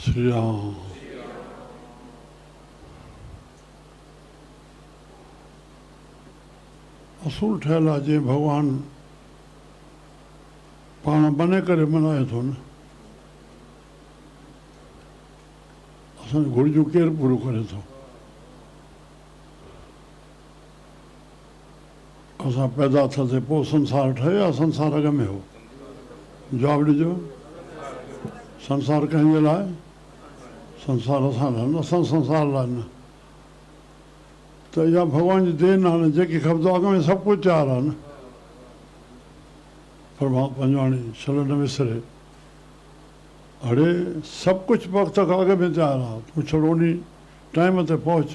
شري رام اصول ٺهيل آ جي ڀڳوان پاڻ بني ڪري منائي ٿو نه اسان جون گهرجون ڪير پوريون ڪري ٿو. اسان پيدا ٿا ٿي پوء سنسار ٺهي يا سنسار اڳ ۾ هو؟ جواب ڏجو. سنسار ڪنهن جي لاء؟ سنسار اسان لاء نه اسان سنسار لاء نه ته اها ڀڳوان جي دين آهي نه جيڪي کپندو اڳ ۾ سڀ ڪجهه تيار آهي نه پرمهات پنجواڻي ڇل نه وسري اڙي سڀ ڪجهه وقت کان اڳ ۾ تيار آهي تون ڇڙو ڏينهن ٽائيم تي پهچ.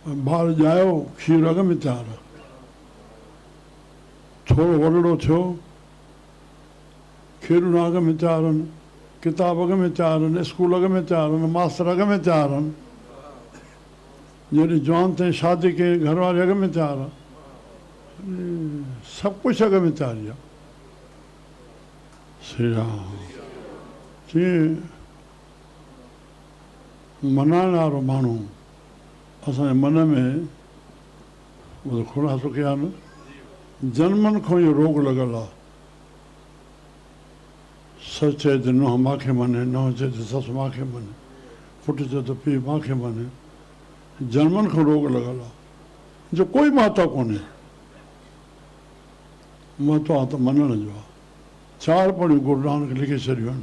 ٻار ڄايو، کير اڳ ۾ تيار هو. ٿورو وڏڙو ٿيو، کيڏونا اڳ ۾ تيار هن، ڪتاب اڳ ۾ تيار هن، اسڪول اڳ ۾ تيار هن، ماستر اڳ ۾ تيار هن. جڏهن جوان ٿئين، شادي ڪيئين، گهر واري اڳ ۾ تيار هئا. سڀ ڪجهه اڳ ۾ تياري آ. سري رام چيئي. منائڻ وارو ماڻهو اسان جي من ۾ اهو خلاصو ڪيا نه جنمن کان اهو روڳ لڳل آ سس چئي ته نونهن مان کي مڃي نونهن چئي ته سس مان کي مڃي پٽ چئي ته پيء مان کي مڃي جنمن کان روڳ لڳل آ جو ڪوئي مهتو ڪونهي مهتو آ ته مڃڻ جو آ چار پڙهيون گرونانڪ لکي ڇڏيون آهن.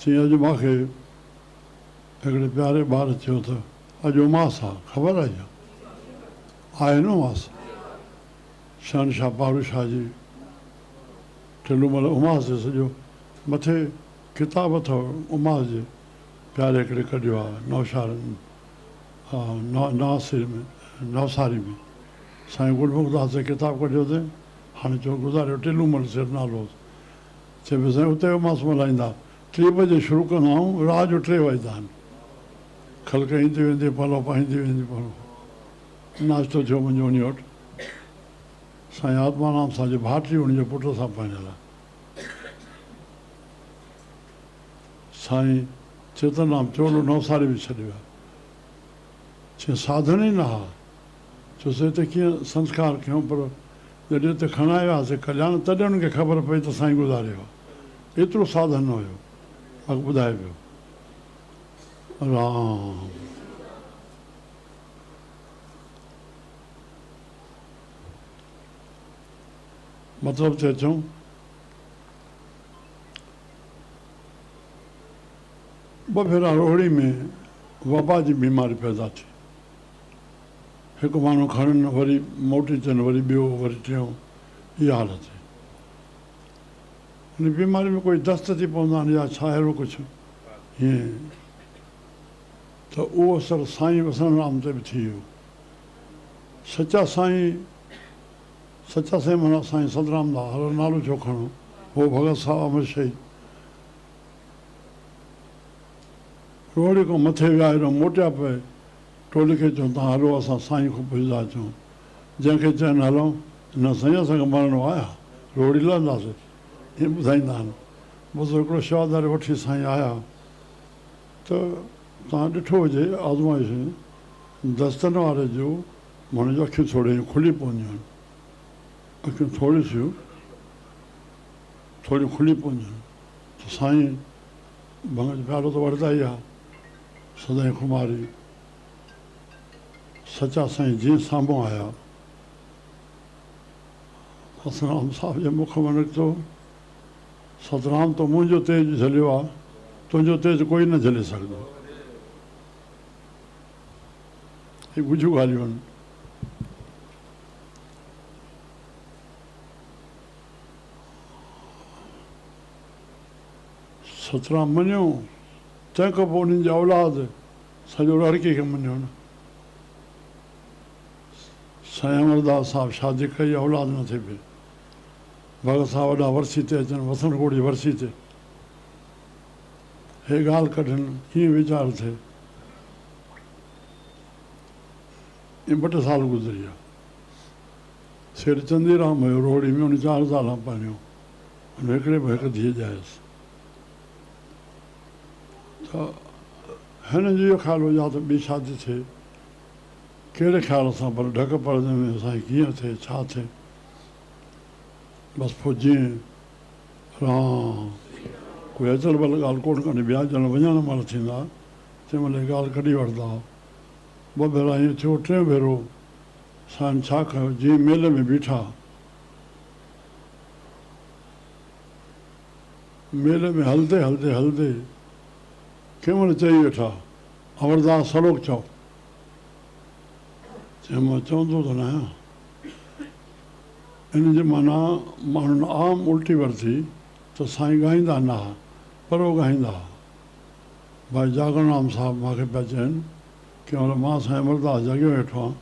چيائين اڄ مان کي هڪڙي پياري ٻار چيو ته اڄ اماس آ، خبر آهي ڇا؟ آهي نه اماس. شهنشاهه پاڙو شاهه جي ٽلومل اماس جي سڄو مٿي ڪتاب اٿو اماس جي پياري هڪڙي ڪڍيو آ نوشهر نوساري ۾ سائين گل مخداس جي ڪتاب ڪڍيو تائين هاڻي چئو گذاريو ٽلومل سيٺ نالو هوس. چئي پيو سائين اتي اماس ملهائيندا ٽي بجي شروع ڪندا آهيون رات جو ٽي وڄدا آهن کلڪ ايندي ويندي پلو پائيندي ويندي پلو ناشتو ٿيو منهنجو انهي وٽ سائين آتمارام سان جي ڀاٽي ان جي پٽ سان پرڻيل آهي سائين چيتن رام چولو نوساري ۾ ڇڏي ويا چئي ساڌڻ ئي نه ها چوسين ته ڪيئن سنسڪار ڪيون پر جڏهن ته کڻائي وياسين ڪلياڻ تڏهن انهن کي خبر پئي ته سائين گذاري ويو آهي. ايترو ساڌن نه هيو. اڳ ٻڌائي پيو. رام. مطلب تي اچون. ٻه ڀيرا روهڙي ۾ وبا جي بيماري پيدا ٿي. هڪ ماڻهو کڻن وري موٽي اچن وري ٻيو وري ٽيون اها حالت هئي ان بيماري ۾ ڪوئي دست ٿي پوندا آهن يا ڇا اهڙو ڪجهه هين ته اهو اثر سائين وسڻ رام تي به ٿي ويو سچا سائين سچا سائين مانا سائين سدرام دا هر نالو ڇو کڻو هو ڀڳت صاحب امر شهيد روهڙي کان مٿي ويا هيڏو موٽيا پئي ٽولي کي چئون ته هلو اسان سائين کان پڇندا اچون. جنهن کي چئن هلون نه سائين اسان کي مرڻو آهي ها روڙي لهنداسي ائين ٻڌائيندا آهن. بس هڪڙو شهاداري وٺي سائين آيا ته توهان ڏٺو هجي آزمائشون دستن واري جو ماڻهو جون اکيون ٿورڙيون ائين کلي پونديون آهن. اکيون ٿورڙيون ٿورڙيون کلي پونديون آهن ته سائين ڀنگ جو پيالو ته وڙهندا ئي ها سدائين خماري سچا سائين جيئن سامهون آيا هسرام صاحب جي مک مان نڪتو سترام تو منهنجو تيج جهليو آ تنهنجو تيج ڪوئي نه جهلي سگهندو هي ڳجهيون ڳالهيون آهن ستران مڃيو، تنهن کان پوء انهن جا اولاد سڄو رهرڪي کي مڃيو نه. سائين امرداس صاحب شادي ڪئي، اولاد نه ٿي پئي. ڀڳت صاحب وڏا ورسي تي اچن، وسڻ ڪوڙ جي ورسي تي هي ڳالهه ڪڍن، ڪيئن ويچار ٿئي. ائين ٻه ٽي سال گذري ويا. سيٺ چندي رام هيو روهڙي ۾، ان چار زالان پرڻيو. هن هڪڙي به هڪ ڌيء ڄائيس ته هن جو اهو خيال هو يا ته ٻي شادي ٿئي. ڪهڙي خيال سان پر ڍڪ پڙدي ۾ سائين ڪيئن ٿئي ڇا ٿئي. بس پوء جيئن رام ڪوئي اچل بل ڳالهه ڪونه ڪني ٻيا ڄڻ وڃڻ مهل ٿيندا تنهن مهل هي ڳالهه ڪڍي وٺدا. ٻه ڀيرا ائين ٿيو ٽئين ڀيرو سائين ڇا ڪيو جيئن ميلي ۾ بيٺا. ميلي ۾ هلدي هلدي هلدي کيمڻ چئي ويٺا، امردا سلوڪ چئو. چيم مان چوندو ته ناهيان. ان جي معنيٰ ماڻهن عام الٽي ورتي ته سائين ڳائيندا ناهه پر اوڳاهيندا ها. ڀائي جاڳڻرام صاحب مان کي پيا چين، ڪنهن مهل مان سائين امرداس جاڳيو ويٺو هان.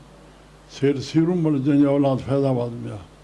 سيٺ سيرومل جنهن جي اولاد فيض آباد ۾ آهي.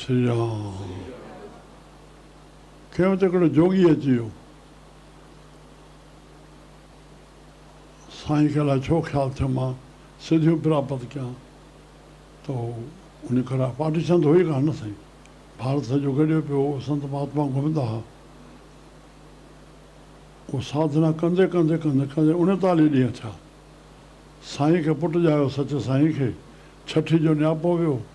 سيان کيم ته هڪڙو جوڳي اچي ويو. سائين کي الائي ڇو خيال ٿيو مان سڌيون پراپت ڪيان ته هو انهي ڪرا پارٽي سنڌ هئي ڪانه نه سائين ڀارت سڄو گڏيو پيو هو سنت مهاتما گهمندا ها اهو ساڌنا ڪندي ڪندي ڪندي ڪندي اڻيتاليهه ڏينهن ٿيا سائين کي پٽ ڄايو سچ سائين کي ڇٺي جو نياپو ويو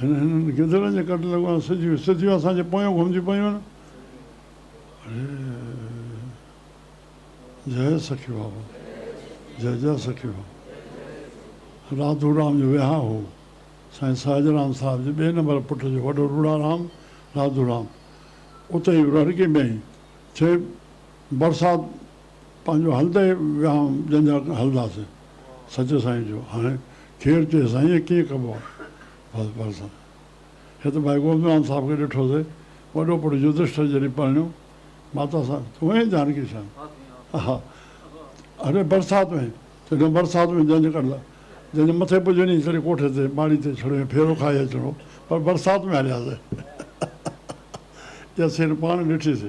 هن هنن گدڙن جي ڪٽ لڳو آهن سڌيون سڌيون اسان جي پويان گهمجي پيون آهن اڙي جئي سکي بابا جئي جئي سکي بابا راڌو رام جو ويهان هو سائين ساجد رام صاحب جي ٻئي نمبر پٽ جو وڏو روڙا رام راڌو رام اتي ئي رهڙڪي ۾ ٿي برسات پنهنجو هلندي ويهان جن جا هلنداسين سچي سائين جو هاڻي کير چيس سائين ڪيئن ڪبو آ بس بس هت ڀائي گوبندرام صاحب کي ڏٺو سي وڏو پٽ يڌشٽر جڏهن پرڻيو ماتا سان تون هين جانڪي شان اها اڙي برسات ۾ چڏهن برسات ۾ جنج ڪڍلا جنج مٿي پڄڻي ڪري ڪوٺي تي ماڙي تي ڇڙهي ڦيرو کائي اچڻو پر برسات ۾ هلياسي ياسين پاڻ ڏٺي سي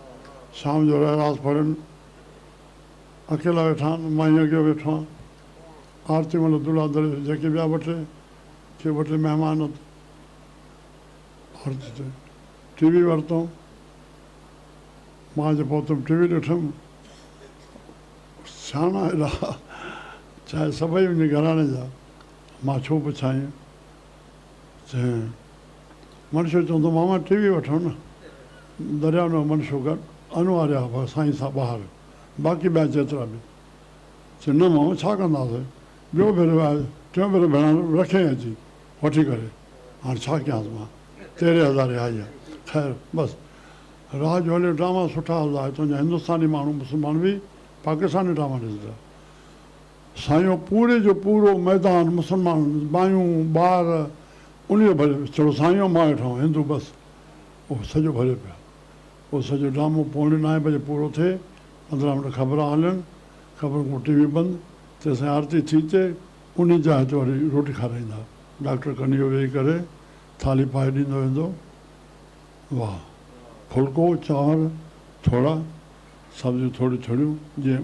شام جو رحراس پڙهن، اڪيلا ويٺا آهن، مانء اڳيئي ويٺو آهيان، آرتي مهل عبدالله درويش جهڪي ٻيا ٻه ٽي ڪي ٻه ٽي مهمان اٿ عرض ته ٽي وي ورتئون، مان جو پهتم ٽي وي ڏٺم، سياڻا هيڏا چاهي سڀئي منهنجي گهراڻي جا، مان ڇو پڇائين. ٿئي. منشو چوندو، ماما ٽي وي وٺو نه. درياء نو منشو ڪر انواريا ڀر سائين سان ٻاهر باقي ٻيا جيترا به. چي نه ماما ڇا ڪنداسين. ٻيو ڀيرو آيو ٽيون ڀيرو ڀيڻان رکيائين اچي وٺي ڪري. هاڻ ڇا ڪيانس مان تيرهين هزاري آئي آ. خير بس رات جو هليو ڊراما سٺا هلندا آهي تنهنجا هندستاني ماڻهو مسلمان به پاڪستاني ڊراما ڏسندا. ساڃو پوري جو پورو ميدان مسلمان، مايون، ٻار، انهيء ڀريو ويو. ڇڙو ساڃو مان ويٺو هندو بس. اهو سڄو ڀريو پيو. پوء سڄو ڊرامو پوڻي نائين بجي پورو ٿئي. پندرهن منٽ خبران هلن. خبرن کان پوء ٽي وي بند. تيسين آرتي ٿي تي انهيء جاء تي وري روٽي کارائيندا. ڊاڪٽر ڪنيو ويهي ڪري ٿالهي پائي ڏيندو ويندو. واهه. ڦلڪو، چانور، ٿورا، سبزيون ٿوريون ٿوريون، جيئن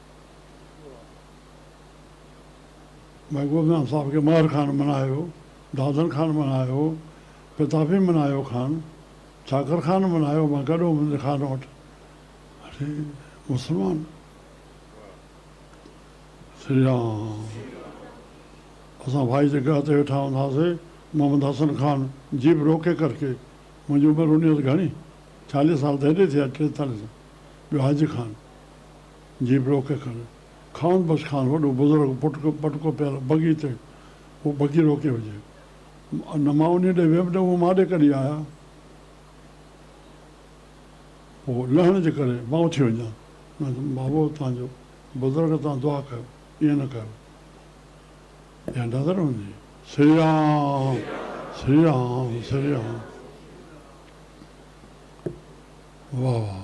محبوب جان صاحب کي مهر خان بنايو، دادن خان بنايو، پتافي بنايو خان، چاڪر خان بنايو مان گڏهو منهنجي خان وٽ اچي مسلمان سري رام اسان ڀائي جي گهه تي ويٺا هوندا سي محمد حسن خان جيپ روڪي ڪرڪي منهنجي عمر هوني هئس گهڻي چاليهه سال ته هيڏي ٿي آهي ٽيتاليهه سال ٻيو حاجي خان جي بروڪي ڪري. خان بخش خان وڏو بزرگ پٽڪو پٽڪو پيل بگي تي هو بگي روڪي هجي. نه مان انهيء ڏي ويم نه اهو مان ڏي ڪڏهن آيا. هو لهڻ جي ڪري مان اٿي وڃان. نه ته بابو توهان جو بزرگ توهان دعا ڪيو ائين نه ڪيو. اها نظر هوندي. سري رام سري رام سري رام. واهه واهه.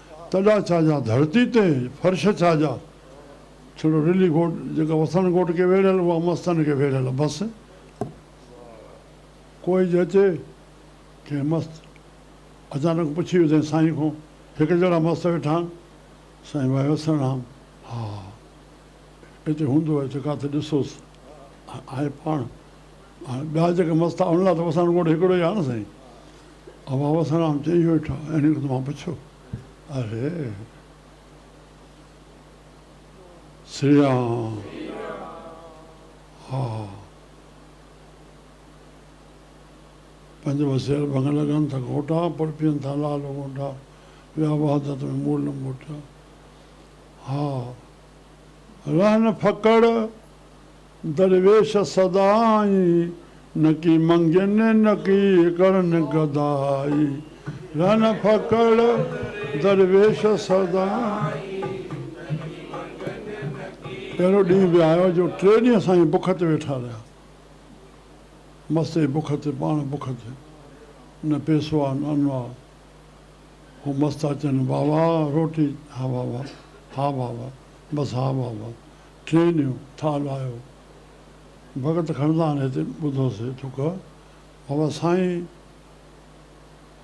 تڏا ڇا جا ڌرتي تي فرش ڇا جا. ڇڙو رلي گهوٽ جيڪا وسڻ گهوٽ کي ويڙهيل اها مستن کي ويڙهيل بس ڪوئي جهچي ڪنهن مست اچانڪ پڇي وڌين سائين کون هڪ جهڙا مست ويٺا آهن سائين وائي وسڻ هام ها اتي هوندو آهي ته ڪاٿي ڏسوس آهي پاڻ هاڻي ٻيا جيڪا مست آهن ان لاء ته وسڻ گهوٽ هڪڙو ئي آهي نه سائين ها بابا سرام چئي ويٺا آهن ڪو ته مان پڇيو آهي سري رام ها ها پنج وسيل ڀنگ لڳن ٿا گهوٽا پر پيئن ٿا لال غونٽا ويا وحدت ۾ مور لنگوٽا ها رهن ڦڪڙ درويش سدائين، نڪي منگين نڪي ڪرن گدائي، رهن ڦڪڙ درويش سدائين. پهريون ڏينهن به آيو جو ٽي ڏينهن سائين بک تي ويٺا رهيا. مستي بک تي پاڻ بک تي. نه پيسو آ نه ان آ. هو مستا چين، واهه واهه روٽي، ها واهه واهه، ها واهه واهه، بس ها واهه واهه، ٽي نيو ٿال آيو ڀڳت کڻندان هتي ٻڌو سي ٿڪ بابا سائين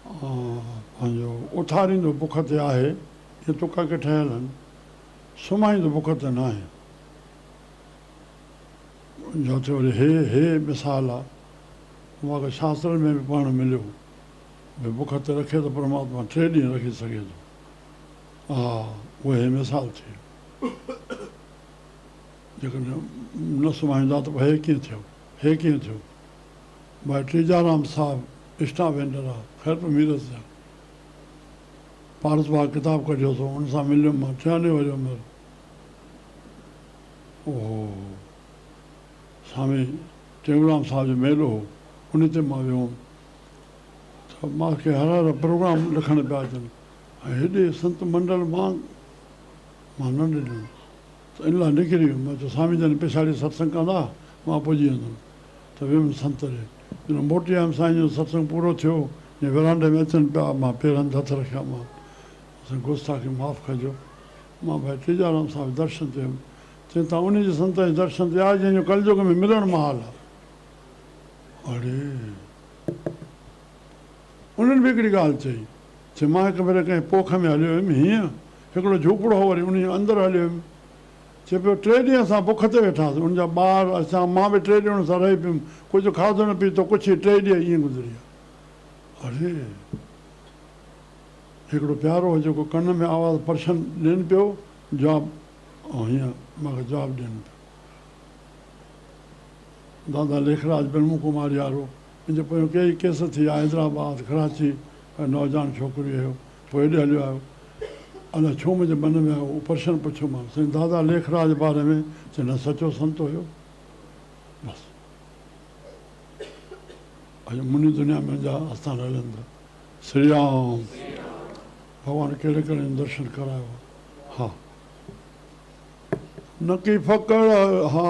پنهنجو اٿاريندو بک تي آهي اهي تڪا ڪي ٺهيل هن سمهائيندو بک تي ناهي جو تي وري هي هي مثال آ واڪ شاستر ۾ به پڙهڻ مليو ڀي بک تي رکي ته پرماتما ٽي ڏينهن رکي سگهي ٿو اها اهي مثال ٿي. جيڪڏهن نه سمهائيندا ته هي ڪيئن ٿيو؟ هي ڪيئن ٿيو؟ ڀائي ٽيجارام صاحب اسٽا وينڊر آ، خير پئي ميرس جا پارس باغ ڪتاب ڪڍيو سو ان سان مليم مان ٽيهاڻي ورهيه عمر اوهو سامي ٽيئوڙام صاحب جو ميلو هو انهي تي مان ويو هوم ته مان کي هر هر پروگرام لکڻ پيا اچن ۽ هيڏي سنت منڊل مان مان نه ڏنم ته ان لاء نڪري ويم مان چيو سامي جن پڇاڙي ستسنگ ڪندا مان پڄي ويندم ته ويم سنت ڏي جڏهن موٽي آيم سائين جن ستسنگ پورو ٿيو جي ورانڊي ۾ اچن پيا مان پير هنڌ هٿ رکيا مان سائين گستاخي معاف ڪجو مان ڀائي ٽيجارام صاحب درشن تي هيم چين ته انهي جي سنت جي درشن تي آ جنهن جو ڪلجوگ ۾ ملڻ محال آ اڙي انهن به هڪڙي ڳالهه چئي چي مان هڪ ڀيري ڪنهن پوک ۾ هليو هيم هينئن هڪڙو جهوپڙو هو وري ان جي اندر هليو هيم چي پيو ٽي ڏينهن اسان بک تي ويٺا هئاسين ان جا ٻار اسان مان به ٽي ڏينهن ان سان رهي پيم ڪجهه کاڌو نه پيتو ڪڇ هي ٽي ڏينهن ائين گذريا اڙي هڪڙو پيارو هو جيڪو ڪن ۾ آواز پرشن ڏين پيو جواب او هينئن مان کي جواب ڏين پيو دادا ليکراج برهمڪمار يارو ان جي پويان ڪيئي ڪيس ٿيا، حيدرآباد، ڪراچي ڪا نوجوان ڇوڪري هيو، پوء هيڏي هليو آيو. ادا ڇو منهنجي من ۾ آيو، پرشن پڇيومانس، چيائين دادا ليکراج جي باري ۾، چيم نه سچو سنتو هيو، بس اڄ منهنجي دنيا ۾ انجا آستان هلن ٿا. سري رام، ڀڳوان ڪهڙي ڪهڙي جون درشن ڪرايو ها. نڪي ڦڪڙ ها.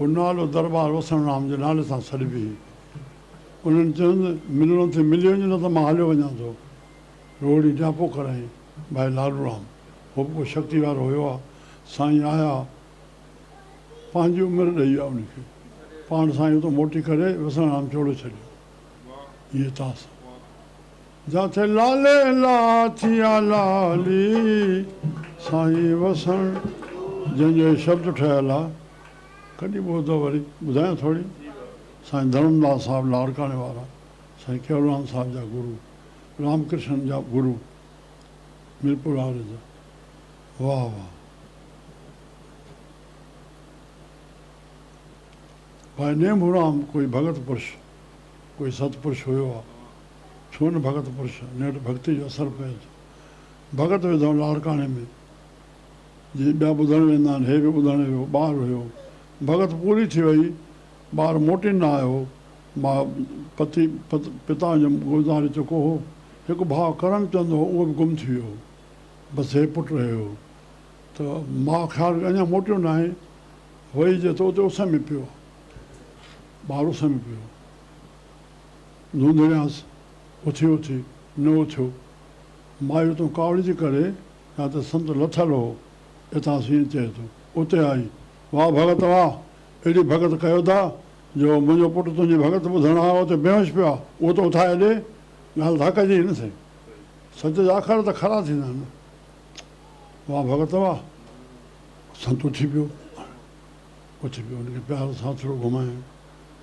هو نالو دربار وسڻ رام جي نالي سان سڏبي هئي. انهن چيس، ملڻو ٿئي ملي وڃ نه ته مان هليو وڃان ٿو. روهڙي ڊاپو ڪرائين، ڀائي لاڏورام، هو به ڪو شڪتي وارو هيو آ، سائين آيا پنهنجي عمر ڏئي ويا ان کي، پاڻ سائين اتو موٽي ڪري وسڻ رام چوڙو ڇڏيو. هيء تاس جاٿي لالي لا ٿيا لالي سائين وسڻ جنهن جو هي شبد ٺهيل آ ڪڏي ٻوڌو وري ٻڌايان ٿوري سائين ڌرم داس صاحب لاڙڪاڻي وارا سائين ڪيولان صاحب جا گرو رام ڪرشن جا گرو ميرپور واري جا واه واه وائي نيم هرام ڪوئي ڀڳت پرش ڪوئي ست پرش هيو آ ڇو نه ڀڳت پرش، نيٺ ڀڳتي جو اثر پئج. ڀڳت وڌو لاڙڪاڻي ۾، جي ٻيا ٻڌڻ ويندا آهن، هي به ٻڌڻ ويو، ٻار هيو. ڀڳت پوري ٿي وئي، ٻار موٽي نه آيو، ماء پتي، پتا جو گذاري چڪو هو. هڪ ڀاء ڪرم چند هو، اهو به گم ٿي ويو هو. بس هي پٽ رهيو هو. ته ماء خيال ڪيو اڃا موٽيو ناهي، وئي جي ته اتي اس ۾ پيو آهي. ٻار اس ۾ پيو. لونڌڙيانس اٿي اٿي نه اٿيو. مايو تون ڪاوڙ جي ڪري يا ته سنت لٿل هو اتان سين چئي ٿو. اتي آئي، واهه ڀڳت واهه، ايڏي ڀڳت ڪيو ٿا جو منهنجو پٽ تنهنجي ڀڳت ٻڌڻ آيو ته بيهوش پيو آهي، اهو ته اٿائي ڏي. ڳالهه ٿا ڪجي هي نه سائين، سچ جا اکر ته کرا ٿيندا آهن نه. واهه ڀڳت واهه. سنت اٿي پيو. اٿي پيو ان کي پيار سان ٿورو گهمايائين.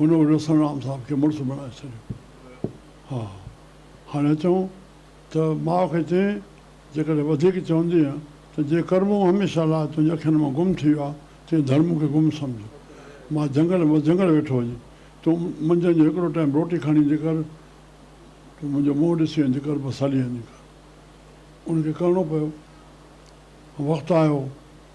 هن وٽ حسن رام صاحب کي مڙس بڻائي ڇڏيو. ها هاڻي اچون ته ماء کي چين، جيڪڏهن وڌيڪ چوندينء ته جي ڪرمون هميشه لاء تنهنجي اکين مان گم ٿي ويا، تنهن ڌر مون کي گم سمجهه. مان جهنگل مان جهنگل ويٺو هجي، تون منجهند جو هڪڙو ٽائيم روٽي کڻي ايندي ڪر، تون منهنجو منهن ڏسي ويندي ڪر، بس هلي ويندي ڪر. ان کي ڪرڻو پيو. وقت آيو.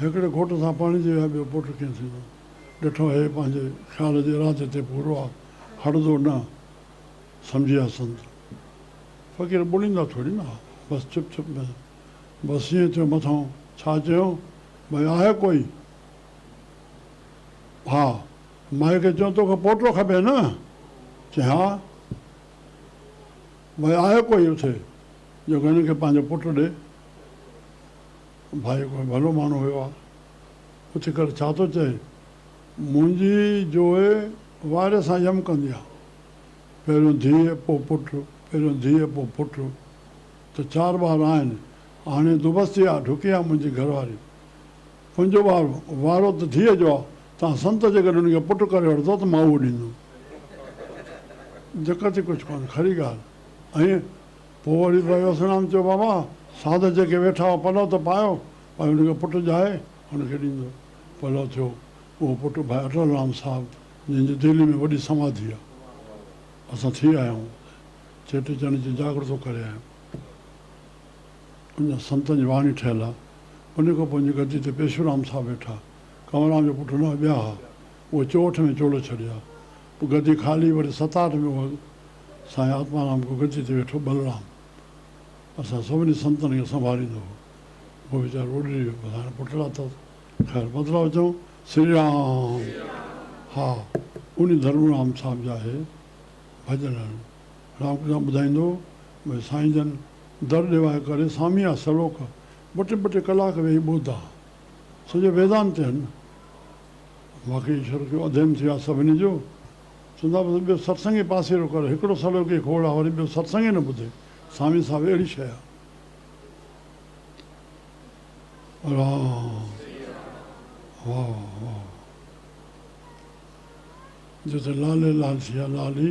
هڪڙي گهوٽ سان پاڻي جي ويا ٻيو پٽ ڪيئن ٿيندو. ڏٺو هيء پنهنجي خيال جي ارادي تي پورو آ، هڙدو نه سمجهي آ سنت فقير ٻوليندا ٿوري نه آ، بس چپ چپ ۾ بس ائين ٿيو مٿانهون ڇا چيون ڀئي آهي ڪوئي؟ ڀاء مائي کي چيون توکي پوٽو کپي نه؟ چيائين ها. ڀاء آهيو ڪوئي اٿي جو هن کي پنهنجو پٽ ڏي. ڀائي ڪوئي ڀلو ماڻهو هيو آ. اٿي ڪري ڇا ٿو چئي. منهنجي جوئي واري سان يم ڪندي آ. پهريون ڌيء پوء پٽ پهريون ڌيء پوء پٽ ته چار ٻار آهن. هاڻي دوبستي آ ڍڪي آ منهنجي گهرواري. هن جو وارو، وارو ته ڌيء جو آ، تان سنت جيڪڏهن هن کي پٽ ڪري وٺندو ته مان اهو ڏيندم. دقت ئي ڪجهه ڪونه، کهڙي ڳالهه ائين. پوء وري به وسڻام چيو بابا، ساڌ جيڪي ويٺا هئا پلئو ته پايو، ۽ هن کي پٽ ڄائي هن کي ڏيندو. پلئو ٿيو. اهو پٽ ڀائي اٽل رام صاحب، جنهن جي دهلي ۾ وڏي سماڌي آ. اسان ٿي آيا آهيون. چيٽي چنڊ جو جاڳرتو ڪري آيا آهيون. ان سنتن جي واڻي ٺهيل آ. انهي کان پوء جيڪا گدي تي پيشورام صاحب ويٺا، ڪنوران جو پٽ نه ٻيا ها، اهي چوهٺ ۾ چوڙهي ڇڏيا. پوء گدي خالي وري ستاهٺ ۾ اهو سائين آتمارام ڪو گدي تي ويٺو ٻلرام اسان سڀني سنتن کي سنڀاليندو هو. اهو ويچارو اڏري ويو بس هاڻي پٽ لاٿو اٿس. خير بدلاء چئون سري رام. ها انهي ڌرمرام صاحب جا اهي ڀڄن آهن. رامڪرشن سان ٻڌائيندو وڃ سائين جن در ڏيوائي ڪري سامي آ سلوڪ ٻه ٽي ٻه ٽي ڪلاڪ ويهي ٻڌا سڄو ويدانت چئن واقعي ايشور کي اڌيم ٿي ويو آ سڀني جو چوندا بس ٻيو ستسنگ ئي پاسيرو ڪر هڪڙو سلوڪ ئي کوڙ آ وري ٻيو ستسنگ ئي نه ٻڌي سامي صاحب اهڙي شئي آ رام واهه واهه واهه جتي لالي لال ٿي ويا لالي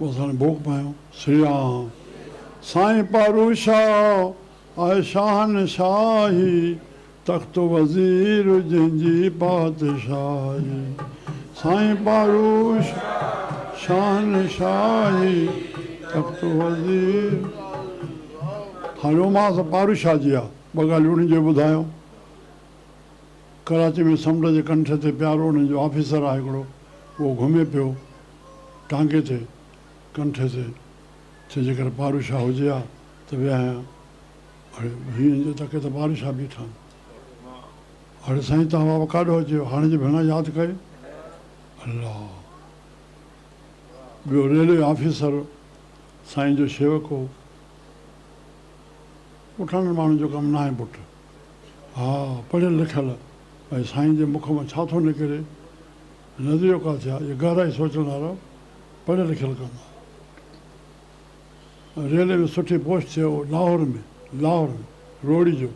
بس هاڻي ڀوڳ پايون سري رام. سائين پارو شاهه آهي شاهنشاهي تخت وزير جنهن جي پادشاهي سائين پارو شاهه شاهنشاهي تخت وزير هاڻي رومانس پارو شاهه جي آ ٻه ڳالهيون انهن جي ٻڌايائون ڪراچي ۾ سمنڊ جي ڪنٺ تي پيارو انهن جو آفيسر آهي هڪڙو اهو گهمي پيو ٽانگي تي، ڪنٺي تي، چي جيڪر پاروء شاهه هجي ها ته ويهايان. اڙي هينئن جو تڪي ته پاروء شاهه بيٺا آهن. اڙي سائين توهان بابا ڪاڏو اچيو هاڻي جو ڀيڻان ياد ڪيو. الله! ٻيو ريلوي آفيسر سائين جو شيوڪ هو. پٺاڻن ماڻهن جو ڪم ناهي پٽ. ها پڙهيل لکيل ۽ سائين جي مک مان ڇا ٿو نڪري. نظريو ڪا ٿيا جو گهرائي سوچڻ وارا پڙهيل لکيل ڪم آهي. ريلوي ۾ سٺي پوسٽ ٿئي هو لاهور ۾ لاهور ۾ روهڙي جو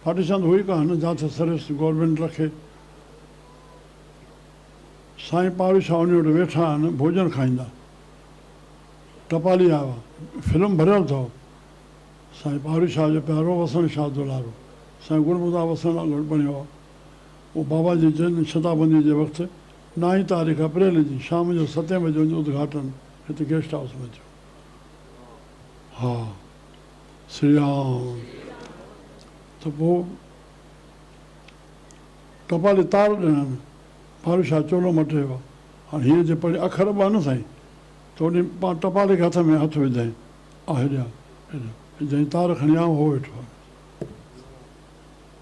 پارٽيشن ته هو ئي ڪانه جاٿي سروس گورنمينٽ رکي سائين پاڙو شاهه انهي وٽ ويٺا آهن ڀوڄن کائيندا ٽپالي آوا فلم ڀريل اٿئو سائين پاڙو شاهه جو پيارو وسڻ شاهه دولارو سائين گل مدا وسڻ لاء گهڙ بڻيو آ. هو بابا جي جنم شتابندي جي وقت نائين تاريخ اپريل جي شام جو ستين بجي ان جو ادگهاٽن هت گيسٽ هائوس ۾ ٿيو ها سري رام ته پوء ٽپالي تار ڏنن ڀارو شاهه چولو مٽي هو هاڻي هيء جي پڙهي اکر ٻه نه سائين ته انهي پاڻ ٽپالي کي هٿ ۾ هٿ وڌائين آ هيڏانهن هيڏانهن جنهن تار کڻي آئون هو ويٺو آهي.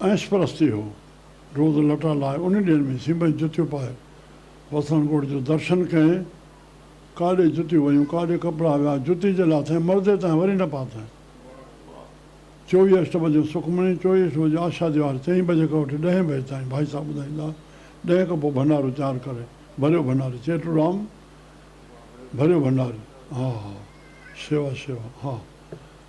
عيش پرستي هو. روز لٽا لاء انهن ڏينهن ۾ سيمنٽ جتيون پائي وسڻ ڳوٺ جو درشن ڪئين. ڪاڏي جتيون ويون، ڪاڏي ڪپڙا ويا، جتي جي لاٿين مردي تائين وري نه پاتائين. چوويهه اٺٽوبر جو سکمڻي، چوويهه اٺٽوبر جو آشا ديوار، چئين بجي کان وٺي ڏهين بجي تائين ڀائي صاحب ٻڌائيندا. ڏهين کان پوء ڀنڊارو تيار ڪري، ڀريو ڀنڊاري، چيٽورام ڀريو ڀنڊاري، ها ها شيوا شيوا، ها.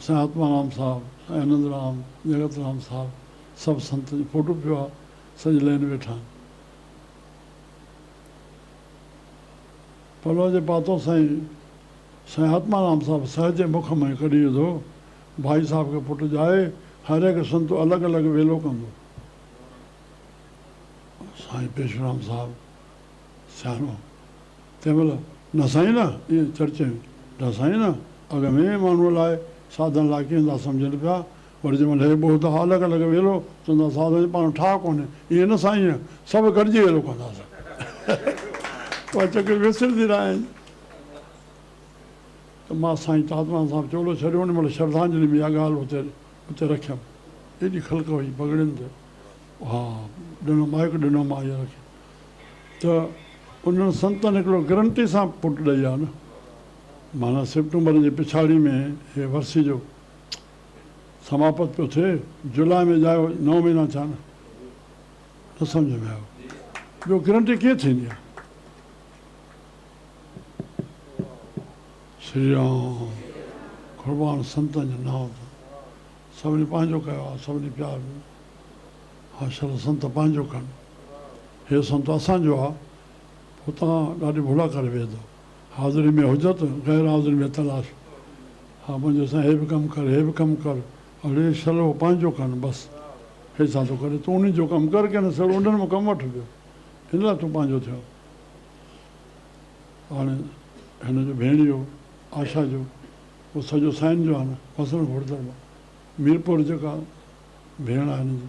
سائين آتمارام صاحب، سائين انند رام، جڳت رام صاحب سڀ سنتن جو فوٽو پيو آ، سڄي لئن ويٺا آهن. پلو جي پاتو سائين، سائين آتمارام صاحب سهج جي مک مان ئي ڪڍي وڌو، ڀائي صاحب کي پٽ ڄائي، هر هڪ سنت الڳ الڳ ويلو ڪندو. سائين پيشورام صاحب سياڻو. تنهن مهل نه سائين نه ائين چرچين ڊا سائين نه اڳ ۾ ماڻهوء لاء ساڌن لاء ڪين ٿا سمجهن پيا وري جنهن مهل هي ٻهتا الڳ الڳ ويلو چون ٿا ساڌن جي پاڻ ٺاهه ڪونهي ائين نه سائين سڀ گڏجي ويلو ڪنداسين اها چڪر وسرندي نه آهي ته مان سائين تاتمان صاحب چولو ڇڏيو ان مهل شرڌانجلي ۾ اها ڳالهه اتي اتي رکيم ايڏي خلق هئي پڳڙين تي اها ڏنو مائڪ ڏنو مان اها رکي ته انهن سنتن هڪڙو گرنٽي سان پٽ ڏئي آ نه معنيٰ سيپٽمبر جي پڇاڙي ۾ هي ورسي جو سماپت پيو ٿئي جولاء ۾ ڄائو نو مهينا ٿيا نه نه سمجهه ۾ آيو ٻيو گرنٽي ڪيئن ٿيندي آ. شري رام قربان سنتن جو نانء ته سڀني پنهنجو ڪيو آ سڀني پيار ڏنو آ شل سنت پنهنجو ڪن. هي سنت اسان جو آ، هتان ڏاڍي ڀولا ڪري ويهي ٿو. حاضري ۾ حجت، غير حاضري ۾ تلاش. ها منهنجي سائين هي به ڪم ڪر، هي به ڪم ڪر، اڙي شلو پنهنجو ڪن بس. هي ڇا ٿو ڪري؟ تون انهن جو ڪم ڪر ڪنهن سڙ انڊن مان ڪم وٺ پيو. هن لاء تون پنهنجو ٿيو. هاڻي هن جو ڀيڻيو آشا جو اهو سڄو سائين جو آ نه. وسڻ گهوڙدڙ مان ميرپور جيڪا ڀيڻ آ هن جي.